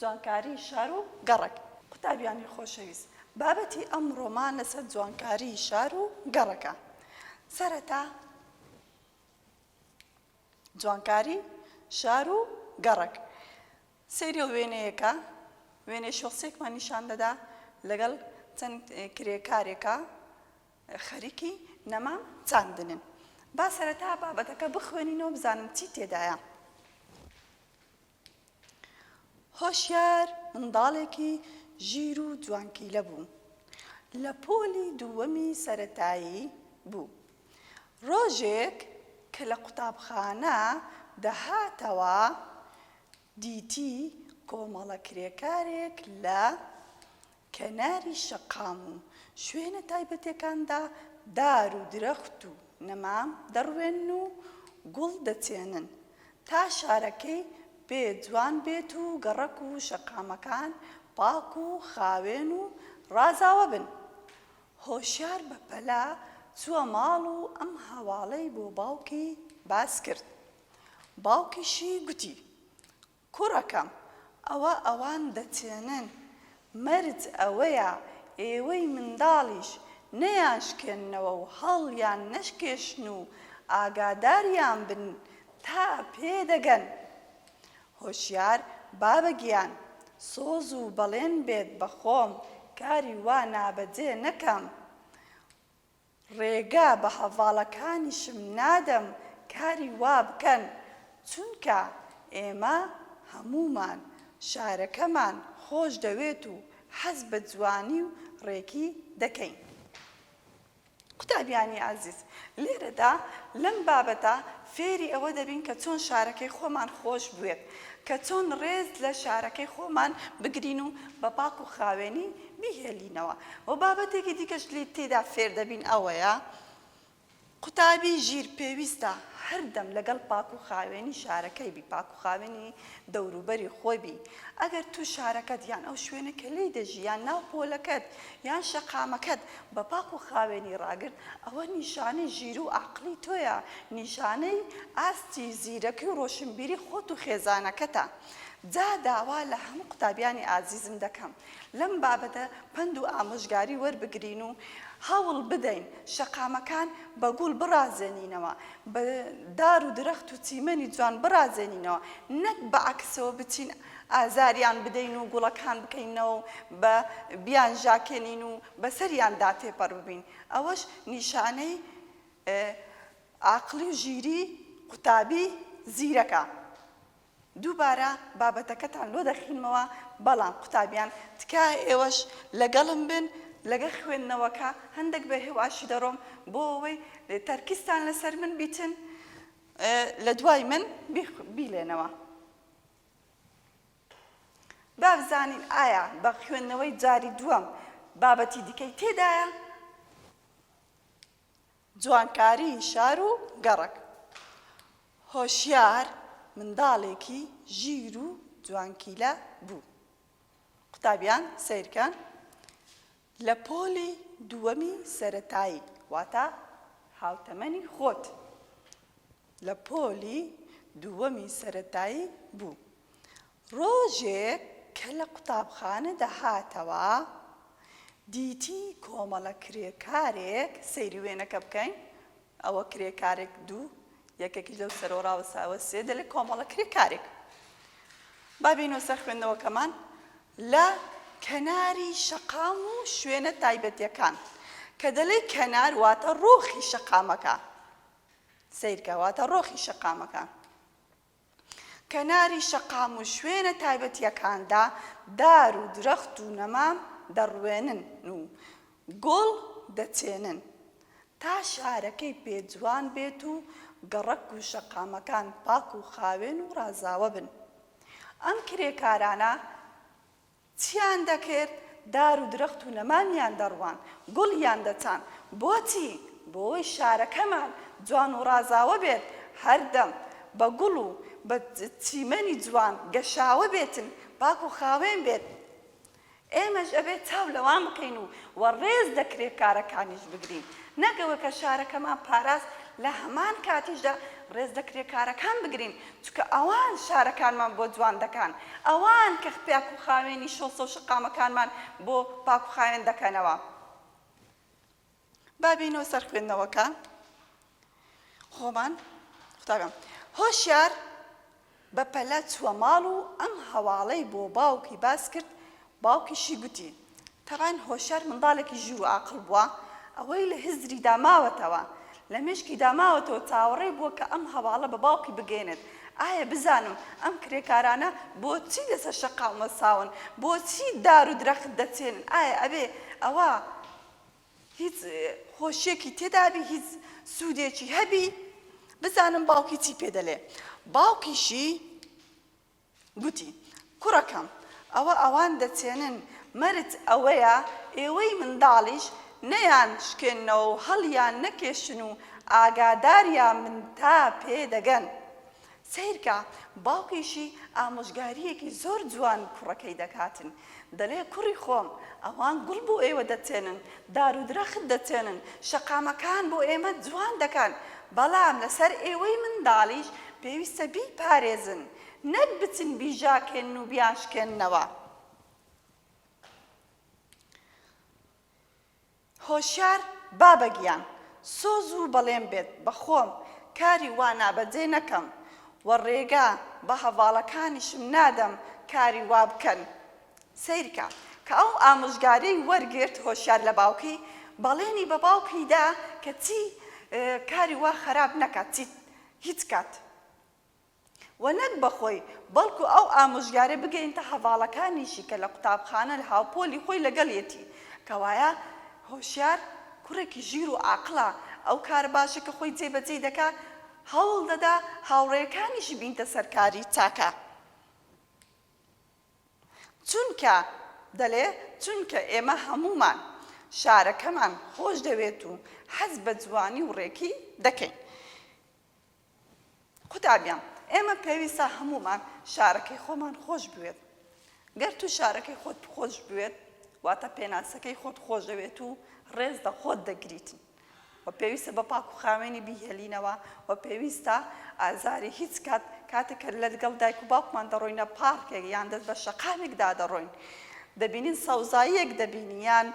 جوانکاری شار و گەڕەک. قوتابیانی خۆشەویست، بابەتی ئەمڕۆمان لەسەر جوانکاری شار و گەڕەکە. سەرەتا جوانکاری شار و گەڕەک. سەیری ئەو وێنەیەکە، وێنەی شۆسێکمان نیشان دەدا لەگەڵ چەند کرێکارێکا خەریکی نەمام چاندنن. با سەرەتا بابەتەکە بخوێنینەوە بزانم چی تێدایە. هۆشیار منداڵێکی ژیر و جوانکیلە بوو، لە پۆلی دووەمی سەرەتایی بوو، ڕۆژێک کە لە قوتابخانە دەهاتەوە دیتی کۆمەڵە کرێکارێک لە کەناری شەقام و شوێنە تایبەتێکاندا دار و درەخت و نەمام دەڕوێن و گوڵ دەچێنن تا شارەکەی پێ جوان بێت و گەڕەک و شەقامەکان پاک و خاوێن و ڕازاوە بن. هۆشیار بە پەلە چووە ماڵ و ئەم هەواڵەی بۆ باوکی باس کرد. باوکیشی گوتی، کوڕەکەم ئەوە ئەوان دەتێنن مەرج ئەوەیە ئێوەی منداڵیش نەیانشکێننەوە و هەڵیان نەشکێشن و ئاگاداریان بن تا پێدەگەن هۆشیار بابە گیان سۆز و بەڵێن بێت بەخۆم کاری وا نابەجێ نەکەم ڕێگە بە هەڤاڵەکانیشم نادەم کاری وا بکەن، چونکە ئێمە هەموومان شارەکەمان خۆش دەوێت و حەز بە جوانی و ڕێکی دەکەین. قوتابیانی ئازیز، لێرەدا لەم بابەتە فێری ئەوە دەبین کە چۆن شارەکەی خۆمان خۆش بوێت، کە چۆن ڕێز لە شارەکەی خۆمان بگرین و بە پاک و خاوێنی بیهێلینەوە و بابەتێکی دیکەش لێی تێدا فێر دەبین ئەوەیە قوتابی ژیر پێویستە هەردەم لەگەڵ پاک و خاوێنی شارەکەی بی پاک و خاوێنی دەوروبەری خۆی بی ئەگەر تو شارەکەت یان ئەو شوێنە کە لێی دەژی یان ناو پۆلەکەت یان شەقامەکەت بە پاک و خاوێنی ڕاگرت ئەوە نیشانەی ژیر و ئاقڵی تۆیە نیشانەی ئاستی زیرەکی و ڕۆشنبیری خۆت و خێزانەکەتە جا داوا لە هەموو قوتابیانی ئازیزم دەکەم لەم بابەتە پەند و ئامۆژگاری وەربگرین و هەوڵ بدەین شەقامەکان بە گوڵ بڕازێنینەوە، بە دار و درەخت و چیمەنی جوان بڕازێنینەوە، نەک بە عەکسەوە بچین ئازاریان بدەین و گوڵەکان بکەینەوە و بە بیانژاکێنین و بەسەریاندا تێپەڕ ببین، ئەوەش نیشانەی عاقڵی و ژیری قوتابی زیرەکە. دووبارە بابەتەکەتان لۆ دەخینمەوە بەڵام قوتابیان تکایە ئێوەش لەگەڵم بن لەگەڵ خوێندنەوەکە هەندەک بە هێواشی دەڕۆم بۆ ئەوەی تەرکیزتان لەسەر من بیتن لە دوای من بیلێنەوە بابزانین ئایا بە خوێندنەوەی جاری دووەم بابەتی دیکەی تێدایە جوانکاریی شار و گەڕەک. هۆشیار منداڵێکی ژیر و جوانکیلە بوو. قوتابیان سەیرکەن لە پۆلی دووەمی سەرەتایی، واتە هاوتەمەنی خۆت، لە پۆلی دووەمی سەرەتایی بوو. ڕۆژێک کە لە قوتابخانە دەهاتەوە دیتی کۆمەڵە کرێکارێک، سەیری وێنەکە بکەین ئەوە کرێکارێک دوو یەکێکیش لەو سەرەوە ڕاوەستاوە سێ دەلێ کۆمەڵە کرێکارێک با بینەوە سەر خوێندنەوەکەمان لە کەناری شەقام و شوێنە تایبەتیەکان کە دەلێ کەنار واتە ڕۆخی شەقامەکە سیرکە واتە ڕۆخی شەقامەکە کەناری شەقام و شوێنە تایبەتییەکاندا دار و درەخت و نەمام دەڕوێنن و گوڵ دەچێنن تا شارەکەی پێ جوان بێت و گەڕەک و شەقامەکان پاک و خاوێن و ڕازاوە بن. ئەم کرێکارانە چیان دەکرد؟ دار و درەخت و نەمامیان دەڕواند، گوڵیان دەچاند. بۆچی؟ بۆوەی شارەکەمان جوان و ڕازاوە بێت، هەردەم بە گوڵ و بە چیمەنی جوان گەشاوە بێتن، پاک و خاوێن بێت. ئێمەش ئەبێ چاو لەوان بکەین و وەڕێز لە کرێکارەکانیش بگرین. نەک ئەوە کە شارەکەمان پاراست، لە هەمان کاتیشدا ڕێز لە کرێکارەکان بگرین، چونکە ئەوان شارەکانمان بۆ جوان دەکان، ئەوان کە پاک و خاوێنی شۆسە و شەقامەکانمان بۆ پاک و خاوێن دەکەنەوە. با بێینەوە سەر خوێندنەوەکە خۆمان. قوتابیان، هۆشیار بە پەلە چووە ماڵ و ئەم هەواڵەی بۆ باوکی باس کرد، باوکیشی گوتی. تەبان هۆشیار منداڵێکی ژیر و ئاقڵ بووە، ئەوەی لە هزری دا ماوەتەوە، لە مێشکی دا ماوەتەوە چاوەڕێ بووە کە ئەم هەواڵە بە باوکی بگەیەنێت، ئایا بزانم ئەم کرێکارانە بۆچی لە سەر شەقام وەستاون، بۆچی دار و درەخت دەچێنن، ئایا ئەبێ ئەوە هیچ خۆشییەکی تێدا بی، هیچ سوودێکی هەبی، بزانم باوکی چی پێ دەلێ، باوکیشی. گوتی، کوڕەکەم! ئەوە ئەوان دەچێنن، مەرج ئەوەیە ئێوەی منداڵیش نەیان شکێننەوە و هەڵیان نەکێشن و ئاگاداریان بن تا پێ دەگەن. سەیرکە، باوکیشی ئامۆژگارییەکی زۆر جوان کوڕەکەی دەکاتن، دەلێ کوڕی خۆم ئەوان گوڵ بۆ ئێوە دەتێنن دار و درەخت دەتێنن شەقامەکان بۆ ئێمە جوان دەکەن بەڵام لەسەر ئێوەی منداڵیش پێویستە بیپارێزن نەک بچن بیژاکێنن و بیانشکێننەوە. هۆشیار بابە گیان سۆز و بەڵێن بێت بە خۆم کاری وا نابەجێ نەکەم و ڕێگا بە هەڤاڵەکانیشم نادەم کاری وا بکەن سەیرکە کە ئەو ئامۆژگاریەی وەرگرت هۆشیار لە باوکی بەڵێنی بە باوکی دا کە چی کاری وا خەراپ نەکات چی هیچ کات. و نەک بە خۆی، بەڵکو ئەو ئامۆژگارەی بگەینتە هەڤاڵەکانیشی کە لە قوتابخانە لە هاوپۆلی خۆی لەگەڵیەتی، کەوایە هۆشیار کوڕێکی ژیر و عاقڵە، ئەو کارە باشەی کە خۆی جێ بەجێی دەکا، هەوڵ دەدا هاوڕێیەکانیشی بینتە سەرکاری چاکە. چونکە، دەلێ، چونکە ئێمە هەموومان شارەکەمان خۆش دەوێت و حەز بە جوانی و ڕێکی دەکەین. قوتابیان، ئێمە پێویستە هەموومان شارەکەی خۆمان خۆش بوێت. گەر تو شارەکەی خۆت خۆش بوێت، واتە پێناسەکەی خۆت خۆشدەوێت و ڕێز لە خۆت دەگریت و پێویستە بە پاک و خاوێنی بیهێلینەوە و پێویستە ئازاری هیچ کات کاتێک کە لەگەڵ دایک و باوکمان دەڕۆینە پارکێک یان دەست بە شەقامێکدا دەڕۆین دەبینین سەوزاییەک دەبینین یان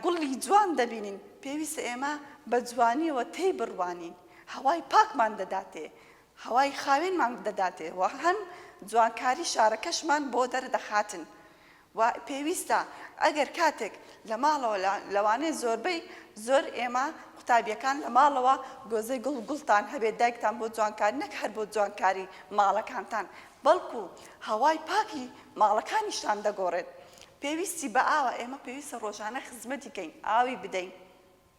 گوڵی جوان دەبینین پێویستە ئێمە بە جوانیەوە تێی بڕوانین. هەوای پاکمان دەداتێ، هەوای خاوێنمان دەداتێ و هەم جوانکاری شارەکەشمان بۆ دەردەخاتن و پێویستە ئەگەر کاتێک لە ماڵەوە لەوانەیە زۆربەی زۆر ئێمە قوتابیەکان لە ماڵەوە گۆزەی گوڵ گوڵتان هەبێت دایکتان بۆ جوانکاری نەک هەر بۆ جوانکاری ماڵەکانتان بەڵکو هەوای پاکی ماڵەکانیشتان دەگۆڕێت پێویستی بە ئاوە ئێمە پێویستە ڕۆژانە خزمەتی کەین ئاوی بدەین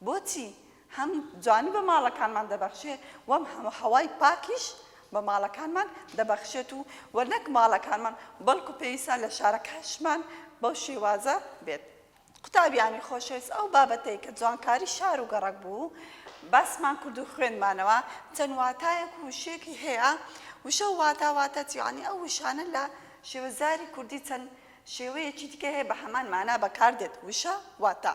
بۆچی هەم جوانی بە ماڵەکانمان دەبەخشێ و هەم هەوای پاکیش بە ماڵەکانمان دەبەخشێت و وە نەک ماڵەکانمان بەڵکو پێویستە لە شارەکانشمان بەو شێوازە بێت. قوتابیانی خۆشەویست ئەو بابەتەی کە جوانکاری شار و گەڕەک بوو باسمان کرد و خوێندمانەوە چەند واتایەک و وشەیەکی هەیە وشە و واتا واتە یانی ئەو وشانە لە شێوەزاری کوردی چەند شێوەیەکی دیکە هەیە بە هەمان مانا بەکاردێت وشە واتا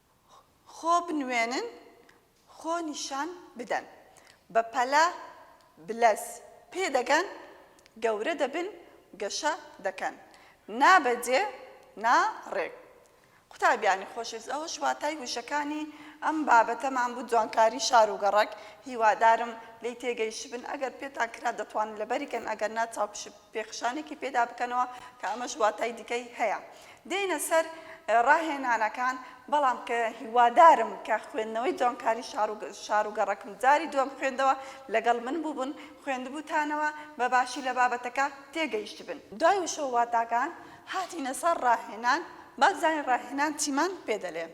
خۆ بنوێنن خۆ نیشان بدەن بە پەلە بلەس پێ دەگەن گەورە دەبن گەشە دەکەن نا بە جێ نا ڕێک قوتابیانی خۆشەویست ئەوەش واتای وشەکانی ئەم بابەتەمان بوو جوانکاری شار و گەڕەک هیوادارم لێی تێگەیشتبن ئەگەر پێتان کرا دەتوانن لەبەری کەن ئەگەر نا چاوپشپ تێکخشانێکی پێدا بکەنەوە کە ئەمەش واتای دیکەی هەیە. دێینە سەر ڕاهێنانەکان، بەڵام کە هیوادارم کە خوێندنەوەی جوانکاری شار و شار و گەڕەکم جاری دووەم خوێندەوە، لەگەڵ من بووبن، خوێندبووتانەوە، بە باشی لە بابەتەکە تێگەیشتبن. دوای وشە و واتاکان، هاتینە سەر ڕاهێنان، با بزانین ڕاهێنان چیمان پێ دەلێ.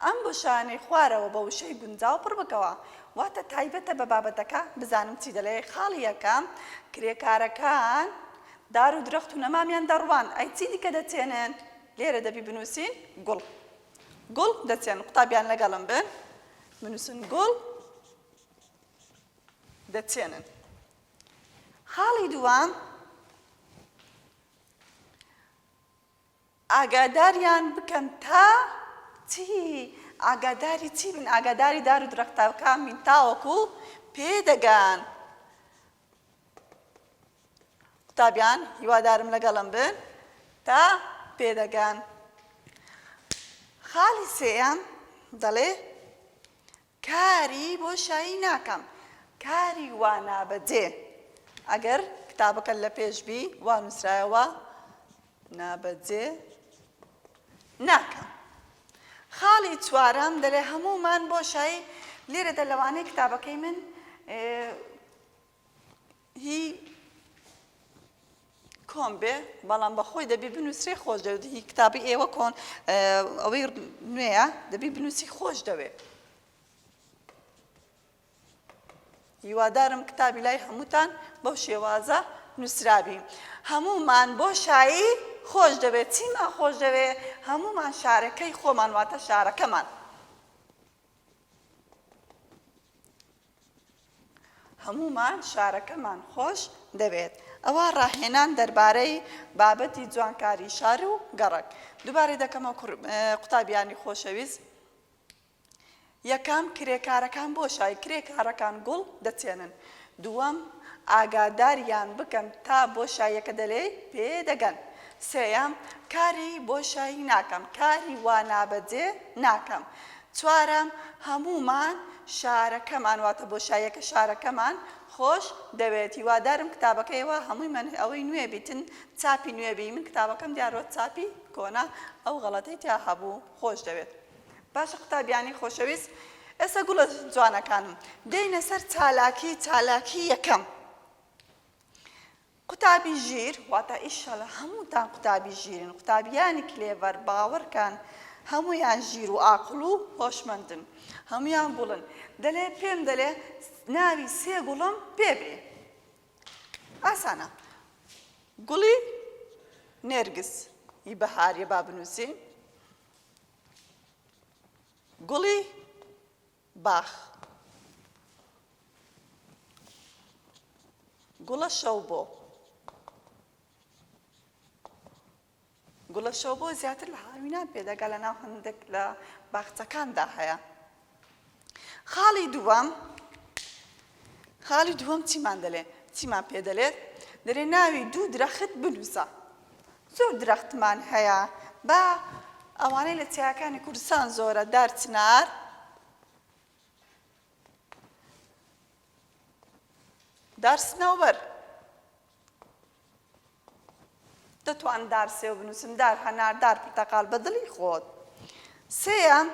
ئەم گوشارانەی خوارەوە بە وشەی گونجاو پڕ بکەوە، واتە تایبەتە بە بابەتەکە، بزانم چی دەلێ، خاڵی یەکەم، کرێکارەکان دار و درەخت و نەمامیان دەڕوان، ئەی چی دیکە دەچێنن؟ لێرە دەبی بنووسین، گوڵ. گوڵ دەچێنن. قوتابیان لەگەڵم بن، بنووسن، گوڵ دەچێنن. خاڵی دووەم، ئاگاداریان بکەن تا چی؟ ئاگاداری چی بن؟ ئاگاداری دار و درەختەکان بین تاوەکو پێ دەگەن. قوتابیان هیوادارم لەگەڵم بن تا پێ دەگەن. خاڵی سێیەم دەڵێ کاری بۆ شایی ناکەم کاری وا نابەجێ ئەگەر کتابەکەت لە پێش بی وا نووسرایەوە نابەجێ ناکەم خاڵی چوارەم دەلێ هەموومان بۆ شایی لێرەدا لەوانەیە کتابەکەی من هی کۆن بێ بەڵام بەخۆی دەبی بنووسێ خۆش دەوێت هی کتابی ئێوە کۆن ئەوەی نوێە دەبی بنووسی خۆش دەوێت هیوادارم کتابی لای هەمووتان بەو شێوازە نووسرابی هەمومان بۆ شایی خۆش دەوێت چیمان خۆش دەوێت هەمومان شارەکەی خۆمان واتە شارەکەمان هەموومان شارەکەمان خۆش دەوێت. ئەوە ڕاهێنان دەربارەی بابەتی جوانکاری شار و گەڕەک. دووبارەی دەکەمەوە کوڕ قوتابیانی خۆشەویست. یەکەم، کرێکارەکان بۆ شای کرێکارەکان گوڵ دەچێنن. دووەم، ئاگاداریان بکەن تا بۆ شایەکە دەلێی پێ دەگەن. سێیەم، کاری بۆ شای ناکەم، کاری وا نابەجێ ناکەم. چوارەم، هەموومان شارەکەمان، واتە بۆشاییەکە شارەکەمان، خۆش دەوێت. هیوادارم کتابەکە یەوە هەمووی مەن ئەوەی نوێ بیتن چاپی نوێ بی من کتابەکەم دیارۆت چاپی کۆنە ئەو غەڵەتەی تیا هەبوو. خۆش دەوێت. باشە قوتابیانی خۆشەویست ئێستا گوڵە جوانەکانم دێینە سەر چالاکی چالاکی یەکەم. قوتابی ژیر واتا ئیشەلا هەمووتان قوتابی ژیرن قوتابیانی کلێڤەر باوەڕکەن هەموویان ژیر و ئاقڵ و هۆشمەندن هەموویان گوڵن دەلێ پێم دەلێ ناوی سێ گوڵم پێ بێ ئاسانە گوڵی نێرگز ی بەهاریە با بنووسین گوڵی باخ گوڵە شەو بۆ گوڵە شەو بۆ زیاتر لە هاوینان پێدەگا لە ناو هەندێک لە باخچەکاندا هەیە خاڵی دووەم خاڵی دووەم چیمان دەلێ؟ چیمان پێ دەلێت؟ دەلێ ناوی دوو درەخت بنووسە. زۆر درەختمان هەیە با ئەوانەی لە چیاکانی کوردستان زۆرە دار چنار، دار سنەوبەر، دەتوان دار سێو بنووسم، دار هەنار، دار پرتەقال بە دڵی خۆت. سێیەم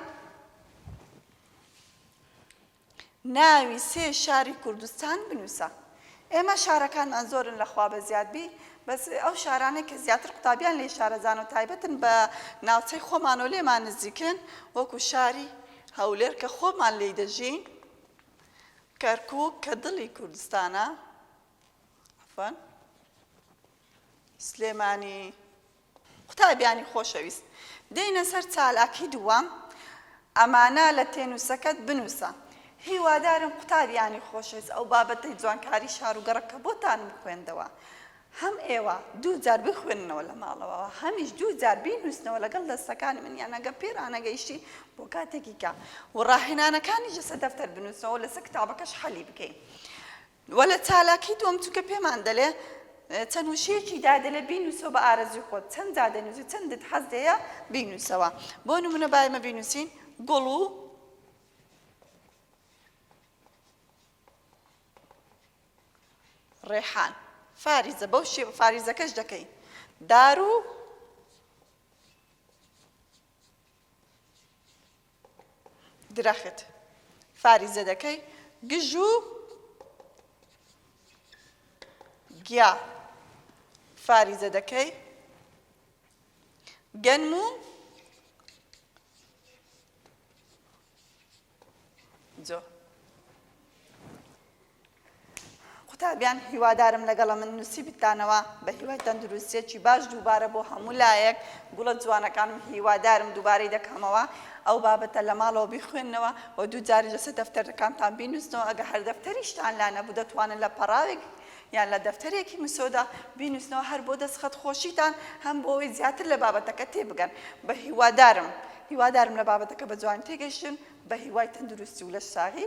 ناوی سێ شاری کوردستان بنوسە. ئێمە شارەکانمان زۆرن لە خوا بە زیاد بی بەس ئەو شارانەی کە زیاتر قوتابیان لێی شارەزانە و تایبەتن بە ناوچەی خۆمان و لێمان نزیکن وەکو شاری هەولێر کە خۆمان لێی دەژین کەرکوک کە دڵی کوردستانە عەفوەن سلێمانی قوتابیانی خۆشەویست دێینە سەر چالاکی دووەم ئەمانە لە تێنووسەکەت بنووسە هیوادارم قوتابیانی خۆشەویست ئەو بابەتەی جوانکاری شار و گەڕەک کە بۆتان بخوێندەوە هەم ئێوە دوو جار بخوێننەوە لە ماڵەوە هەمیش دوو جار بینووسنەوە لەگەڵ دەستەکانی من یان ئەگە پێ ڕانەگەیشتی بۆ کاتێکی کە و ڕاهێنانەکانیش لەسەر دەفتەر بنووسنەوە لەسەر کتابەکەش حەلی بکەین وە لە چالاکی دووەم چونکە پێمان دەلێ چەند وشەیەکی دا دەلێ بینوسەوە بە ئارەزوی خۆت چەند جا دەنوسی چەندت حەز لێیە بینوسەوە بۆ نمونە با ئێمە بینوسین گوڵ و ڕێحان فاریزە بەو شێ فاریزەکەش دەکەین دار و درەخت فاریزە دەکەی گژ و گیا فاریزە دەکەی گەنم و جۆ قوتابیان هیوادارم لەگەڵە من نوسی بتانەوە بە هیوای تەندروستیەکی باش دووبارە بۆ هەموو لایەک گوڵە جوانەکانم هیوادارم دووبارەی دەکەمەوە ئەو بابەتە لە ماڵەوە بیخوێنەوە و دوو جاری لەسەر دەفتەرەکانتان بینوسنەوە ئەگە هەر دەفتەریشتان لا نەبوو دەتوانن لە پەڕاوێک یان لە دەفتەرێکی مسۆدا بینوسنەوە هەر بۆ دەستخەت خۆشیتان هەم بۆ ئەوەی زیاتر لە بابەتەکە تێبگەن بە هیوادارم هیوادارم لە بابەتەکە بە جوانی تێگەشتن بە هیوای تەندروستی و لەش ساغی